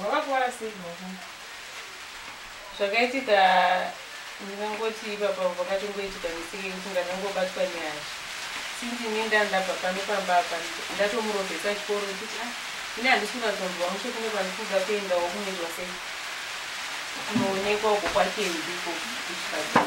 Wakakuvara sei baba? Zvakaitika ndingangoti ipapa pakatongoitika misiki yekuti ndandangobatwa nehasha. Since ini ndandabva pano pamba apa ndatomurovesa chikoro kuti ah ini handisi kunyatsonzwa mushe kune kwandiri kuda kuendawo kunoitwa sei kunoonekwa uko kwake ndiko kuchipatara.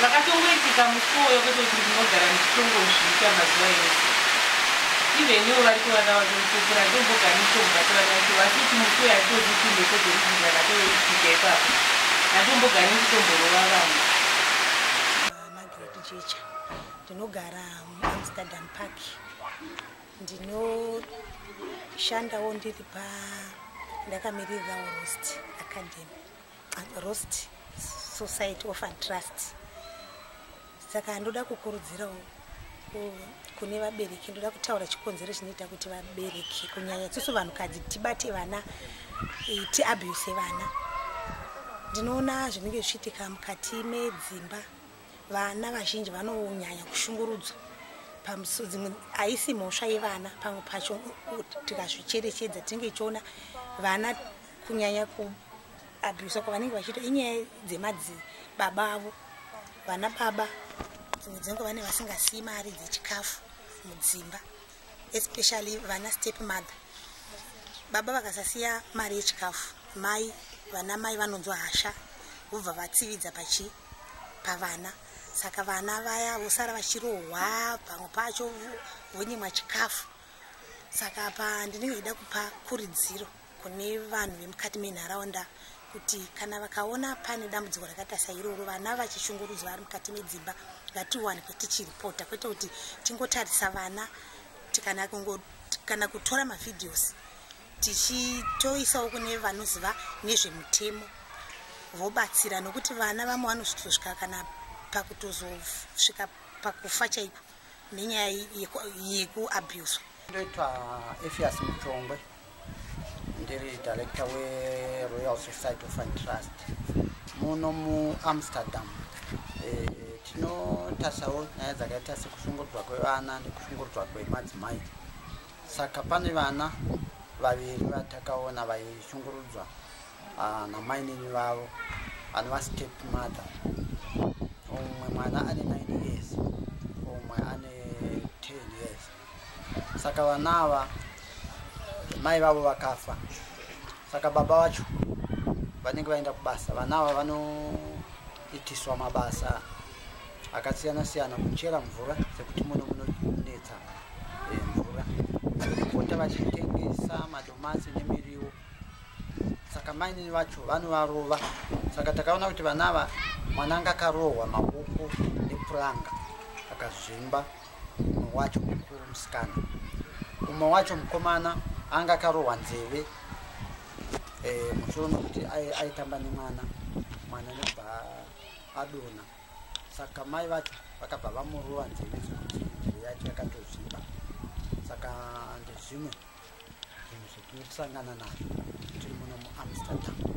Zvakatongoitika musi uwoyo kwete kuti ndinogara ndichitongozviita mazuva ese. Even ivo vari kuvana vake mupupura ndombogara ndichitongobata vana vacho vasi kuti musi uyo haitozi kuti mhepo dzekuti dzakatoitika ipapo. Ndatombogara ndichitomborova vanhu. Margaret Jecha. Ndinogara muAmsterdam Park. Ndinoshandawo ndiri pa ndakamirira Rost Academy. rost society of and trust saka ndoda kukurudzirawo kune vabereki ndoda kutaura chikonzero chinoita kuti vabereki kunyanya tisu vanhukadzi tibate vana eh, tiabuse vana ndinoona zvinenge zvichiitika mukati medzimba vana vazhinji vanonyanya kushungurudzwa pamusudzimwe haisi mhosva yevana pamwe pacho tikazvicherechedza tinenge tichiona vana kunyanya kuabhusa kwavanenge vachiita inyaya dzemadzi baba avo vana baba dzimwe dzenguva vane vasingasiyi mari dzechikafu mudzimba especially vana step mother baba vakasasiya mari yechikafu mai vana mai vanonzwa hasha vobva vatsividza pachi pavana saka vana vaya vosara vachirohwa pamwe pacho vonyimwa chikafu saka apa ndinenge ida kupa kuridziro kune vanhu vemukati menharaunda kuti kana vakaona pane dambudziko rakaita sairoro vana vachishungurudzwa vari mukati medzimba ngatiwanikwe tichiripota kwete kuti tingotarisa vana tikana kungo kana kutora mavhidhios tichitoisawo kune vanoziva nezvemutemo vobatsira nokuti vana vamwe vanozotosvika kana pakutozosvika pakufa chaiko nenyaya yekuabuswa ndoitwa efias muchongwe ndiri director weroyal society of and trust muno muamsterdam eh, tinotasawo nyaya dzakaita sekushungurudzwa kwevana nekushungurudzwa kwemadzimai saka pane vana vaviri vatakaona vaishungurudzwa Ah, namainini vavo anova step mother umwe mwana ane 9 years umwe ane 10 years saka vana ava mai vavo vakafa saka baba vacho vanenge vaenda kubasa vana ava vanoitiswa mabasa akasiyana siyana kuchera mvura sekuti muno munonetsa eh, mvura kupota vachitengesa madomasi nemiriwo saka mainini vacho vanovarova saka takaona kuti vana ava mwana anga akarohwa maoko nepuranga akazvimba umwe wacho mukuru musikana umwe wacho mukomana anga akarohwa nzeve eh, musoro nokuti aitamba nemwana mwana nekubva adona saka mai vacho vakabva vamurova nzeve zvokuti nzeve yacho yakatozvimba saka ndezvimwe zvinhu zvetiri kusangana nazvo tiri muno muamsterdam